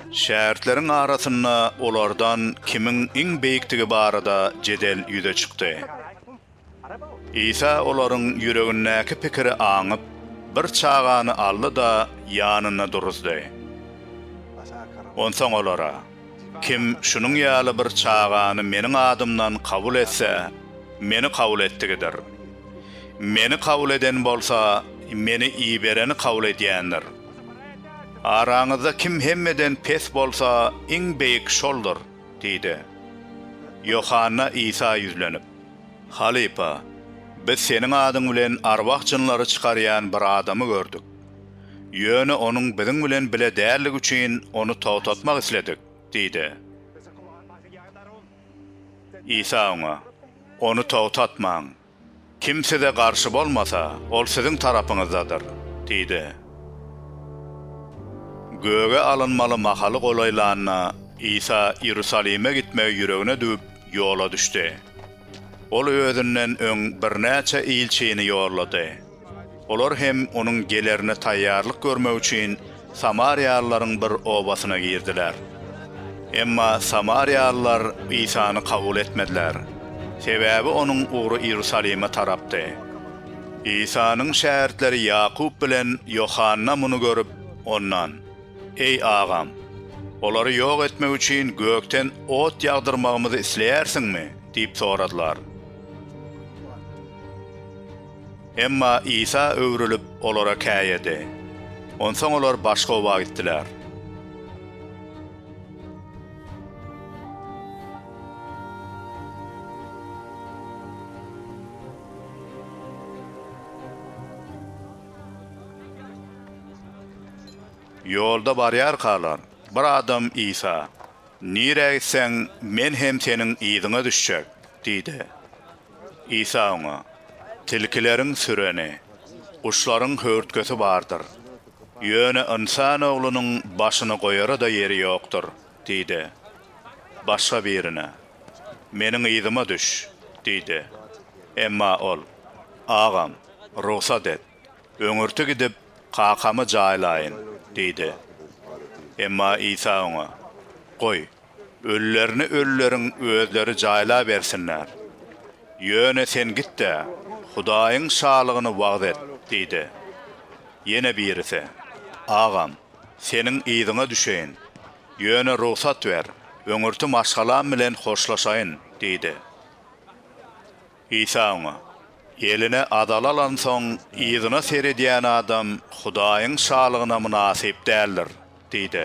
Şägirtleriň arasynda olardan kimiň iň beýikdigi barada jedel ýüze çykdy. Isa olaryň ýüregindäki pikiri aňyp, bir çagany aldy-da, ýanynda duruzdy. Onsoň olara. Kim şunuň ýaly bir çagany Meniň adymdan kabul etse, Meni kabul etdigidir. Meni kabul eden bolsa, Meni ibereni kabul edýändir. Araňyzda kim hemmeden pes bolsa, iň beýik şoldur diýdi. Ýohanna Isa ýüzlenip. Halypa, biz Seniň adyň bilen arwah-jynlary çykarýan bir adamy gördük. Ýöne onuň biziň bilen bile däldigi üçin ony togtatmak isledik diýdi. Isa oňa, Ony togtatmaň. Kim size garşy bolmasa, ol siziň tarapyňyzdadyr diýdi. Göge alynmaly mahaly golaýlanda, Isa Iýerusalime gitmegi ýüregine düwüp, ýola düşdi. Ol özünden öň birnäçe ilçini ýollady. Olar hem onuň gelerine taýýarlyk görmek üçin samariýalylaryň bir obasyna girdiler. Emma samariýalylar Isany kabul etmediler, sebäbi onuň ugry Iýerusalime tarapdy. Isanyň şägirtleri Ýakup bilen Ýohanna muny görüp, ondan, Eý, agam, olary ýok etmek üçin gökden ot ýagdyrmagymyzy isleýärsiňmi? diýip soradylar. Emma Isa öwrülip, olara käýedi. Onsoň olar başga oba gitdiler. Ýolda barýarkalar, bir adam Isa, Nirä gitseň, men hem seniň yzyňa düşjek diýdi. Isa oňa, Tilkileriň süreni, guşlaryň höwürtgesi bardyr. Ýöne Ynsan Oglunyň başyny goýara-da ýeri ýokdur diýdi. Başga birine, Meniň yzyma düş diýdi. Emma ol, Agam, rugsat et, öňürti gidip, kakamy jaýlaýyn diýdi. Emma Isa oňa, Goý, Ölülerini ölüleriň özleri jaýlabersinler. Ýöne sen git-de, Hudaýyň Şalygyny wagyz et diýdi. Ýene birisi, Agam, seniň yzyňa düşeýin. Ýöne rugsat ber, öňürti maşgalam bilen hoşlaşaýyn diýdi. Isa oňa, Eline azal alansoň, yzyna seredýän adam Hudaýyň Şalygyna mynasyp däldir diýdi.